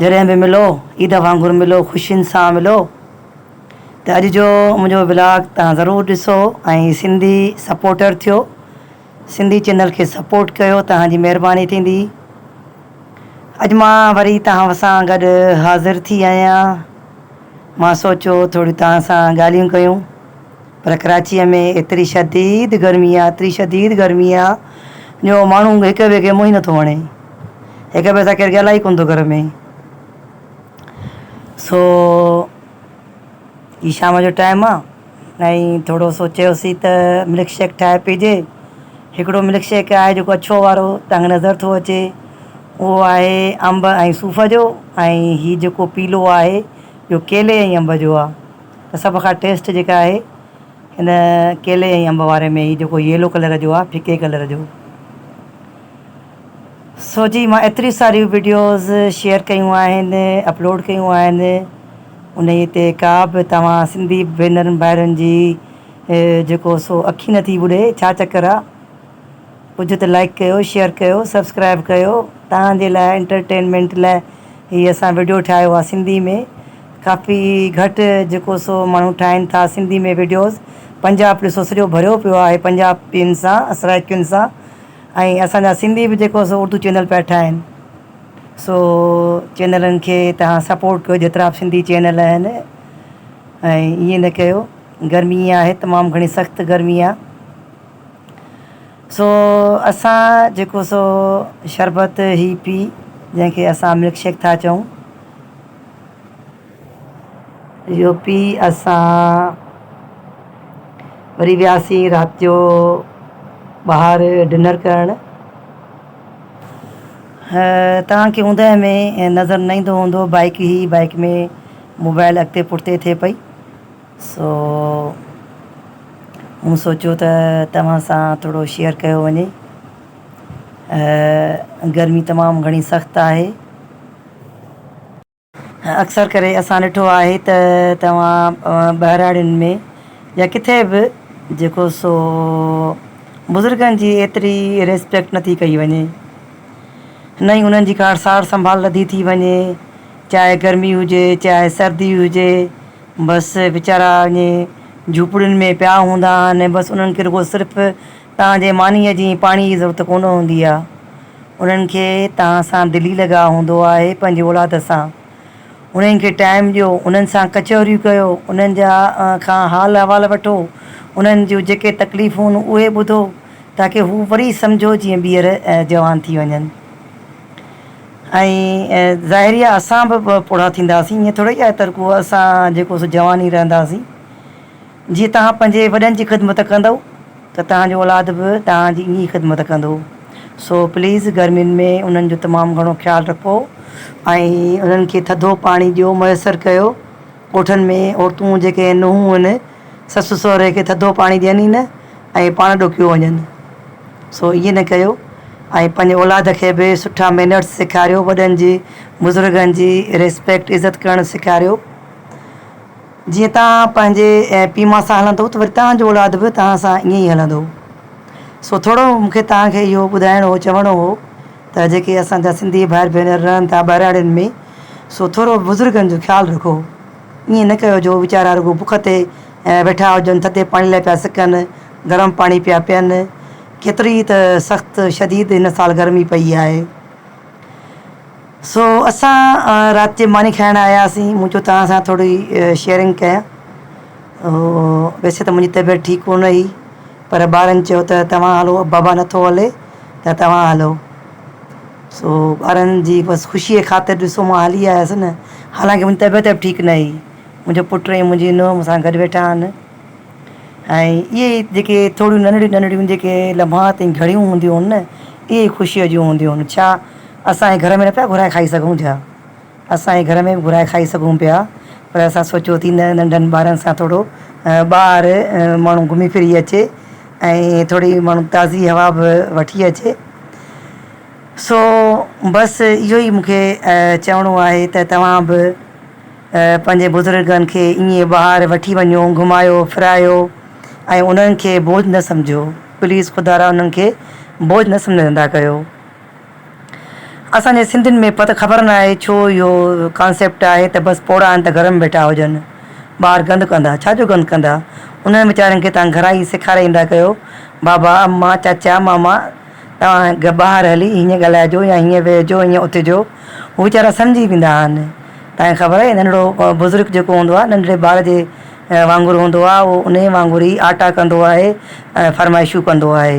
جڏهن به ملو عيد وانگر ملو خوشين سان ملو ته اڄ جو منهنجو ولاگ تهان ضرور ڏسو ۽ سنڌي سپورٽر ٿيو سنڌي چينل کي سپورٽ ڪيو تهان جي مهرباني ٿيندي اڄ مان وري تهان سان گڏ حاضر ٿي آهيان مان سوچيو ٿوريون تهان سان ڳالهيون ڪيون پر ڪراچيء ۾ ايتري شديد گرمي آ، ايتري شديد گرمي آ جو ماڻهو هڪ ٻئي کي منهن ئي نٿو هڻي. هڪ ٻئي سان ڪير ڳالهائي ئي ڪونه ٿو گهر ۾. سو هي شام جو ٽائيم آ ۽ ٿورو سوچيوسين ته ملڪ شيڪ ٺاهي پيجي. هڪڙو ملڪ شيڪ آهي جيڪو اڇو وارو تنگ نظر ٿو اچي. اهو آهي انب ۽ صوف جو ۽ هي جيڪو پيلو آهي اهو ڪيلي ۽ انب جو آ. ته سڀ کان ٽيسٽ جيڪا آهي ان ڪيلي ۽ انب واري ۾ هي جيڪو ييلو ڪلر جو آهي ڦڪي ڪلر جو سو جي مان ايتريون ساريون وڊيوز شيئر ڪيون آهن اپلوڊ ڪيون آهن انهي تي ڪا به توهان سنڌي ڀينرن ڀائرن جي جيڪو سو اکي نٿي ٻڏي ڇا چڪر آهي ھجو ته لائيڪ ڪيو شيئر ڪيو سبسڪرائيب ڪيو توھان جي لاء انٽرٽينمينٽ لاء ھي اسان وڊيو ٺاھيو آ سنڌي ۾ ڪافي گھٽ جيڪو سو ماڻھو ٺاھين ٿا سنڌي ۾ وڊيوز پنجاب ڏسو سڄو ڀريو پيو آھي پنجابين سان سرائڪين سان ۽ اسان جا سنڌي به جيڪو سو اردو چينل پيا ٺاھين سو چينلن کي توھان سپورٽ ڪيو جيترا به سنڌي چينل آھن ۽ ائين نه ڪيو گرمي آھي تمام گھڻي سخت گرمي آ. سو اسان جيڪو سو شربت هي پي جنهن کي اسان ملڪ شيڪ ٿا چئون اهو پي اسان وري وياسين رات جو ٻاهر ڊنر ڪرڻ توهان کي اوندهه ۾ نظر نه ايندو هوندو بائڪ هي بائڪ ۾ موبائل اڳتي پٺتي ٿئي پئي سو مون سوچيو ته توهان سان ٿورو شيئر ڪيو وڃي. گرمي تمام گهڻي سخت آهي. اڪثر ڪري اسان ڏٺو آهي ته توهان ٻهراڙين ۾ يا ڪٿي به جيڪو سو بزرگن جي ايتري ريسپيڪٽ نٿي ڪئي وڃي. نه ئي انهن جي ڪا سار سنڀال لڌي ٿي وڃي. چاهي گرمي هجي چاهي سردي هجي. بس ويچارا اڃ جهوپڙين ۾ پيا هوندا آهن بس انهن کي رڳو صرف توهان جي مانيء جي پاڻي جي ضرورت ڪونه هوندي آهي انهن کي توهان سان دلي لڳاء هوندو آهي پنهنجي اولاد سان انهن کي ٽائيم ڏيو انهن سان ڪچهريون ڪيو انهن جا کان حال احوال وٺو انهن جون جيڪي تڪليفون اهي ٻڌو تاڪي هو وري سمجهو جيئن ٻيهر جوان ٿي وڃن. ۽ ظاهري آهي اسان به پوڙها ٿينداسين ائين ٿورئي آهي ته رڳو اسان جيڪو سو جوان ئي رهنداسين. جيئن توهان پنهنجي وڏن جي خدمت ڪندؤ ته توهان جو اولاد به توهان جي ائين ئي خدمت ڪندو. سو پليز گرمين ۾ انهن جو تمام گهڻو خيال رکو ۽ انهن کي ٿڌو پاڻي ڏيو ميسر ڪيو. ڳوٺن ۾ عورتون جيڪي نونهون هن سس سهري کي ٿڌو پاڻي ڏين ئي نه ۽ پاڻ ڏوڪيو وڃن سو ائين نه ڪيو ۽ پنهنجي اولاد کي به سٺا مينرس سيکاريو وڏن جي بزرگن جي ريسپيڪٽ عزت ڪرڻ سيکاريو جيئن توهان پنهنجي پي ماء سان هلندو ته وري توهان جو اولاد به توهان سان ائين ئي هلندو سو ٿورو مونکي توهان کي اهو ٻڌائڻو هو چوڻو هو ته جيڪي اسان جا سنڌي ڀائر ڀينر رهن ٿا ٻهراڙين ۾ سو ٿورو بزرگن جو خيال رکو ائين نه ڪيو جو ويچارا رڳو بک تي ويٺا هجن ٿڌي پاڻي لاء پيا سڪن گرم پاڻي پيا پين ڪيتري ته سخت شديد هن سال گرمي پئي آهي سو اسان رات جي ماني کائڻ آياسين مون چيو توهان سان ٿوري شيئرنگ ڪيان ويسي ته منهنجي طبيعت ٺيڪ ڪونه هئي پر ٻارن چيو ته توهان هلو بابا نٿو هلي ته توهان هلو. سو ٻارن جي بس خوشيء خاطر ڏسو مان هلي آيس نه، حالانڪه منهنجي طبيعت به ٺيڪ نه هئي. منهنجو پٽ ۽ منهنجي نونهن مون سان گڏ ويٺا آهن ۽ اهي ئي جيڪي ٿوريون ننڍڙيون ننڍڙيون جيڪي لمحات ۽ گهڙيون هونديون هن نه، اهي ئي خوشيء جون هونديون هن. ڇا اسان اهي گهر ۾ نه پيا گهرائي کائي سگهون ڇا؟ اسان هي گهر ۾ به گهرائي کائي سگهون پيا پر اسان سوچيو ٿي نه ننڍن ٻارن سان ٿورو ٻاهر ماڻهو گهمي ڦري اچي ۽ ٿوري ماڻهو تازي هوا به وٺي اچي سو بس اهو ئي مونکي چوڻو آهي ته توهان به پنهنجي بزرگن کي ائين ٻاهر وٺي وڃو گهمايو ڦرايو ۽ انهن کي بوجھ نه سمجهو پليز خدارا انهن کي بوجھ نه سمجهندا ڪيو اسان جي سنڌين ۾ پت خبر ناهي ڇو اهو ڪانسيپٽ آهي ته بس پوڙها آهن ته گهر ۾ ويٺا هجن. ٻاهر گند ڪندا. ڇا جو گند ڪندا. انهن ويچارن کي توهان گهران ئي سيکاري ايندا ڪيو. بابا، امان، چاچا، ماما توهان ٻاهر هلي هيئن ڳالهائجو يا هيئن ويهجو هيئن اٿجو. هو ويچارا سمجهي ويندا آهن. توهان کي خبر آهي ننڍڙو بزرگ جيڪو هوندو آهي ننڍڙي ٻار جي وانگر هوندو آهي اهو انهيء وانگر ئي آٽا ڪندو آهي ۽ فرمائشون ڪندو آهي.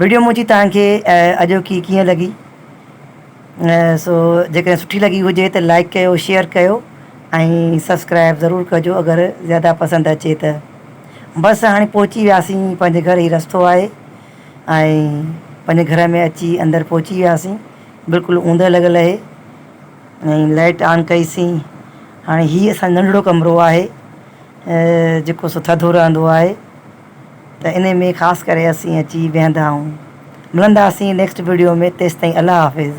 ويڊيو منهنجي توهان کي اڄوڪي ڪيئن لڳي سو جيڪڏهن سٺي لڳي هجي ته لائڪ ڪيو شيئر ڪيو ۽ سبسڪرائب ضرور ڪجو اگر زياده پسند اچي ته بس هاڻي پهچي وياسين پنهنجي گهر هي رستو آهي ۽ پنهنجي گهر ۾ اچي اندر پهچي وياسين بلڪل اوندهه لڳل اهي ۽ لائٽ آن ڪئيسين هاڻي هي اسان ننڍڙو ڪمرو آهي جيڪو سو ٿڌو رهندو آهي ته انهي ۾ خاص ڪري اسين اچي ويهندا ۽ ملنداسين نيڪسٽ ويڊيو ۾ تيستائين الله حافظ.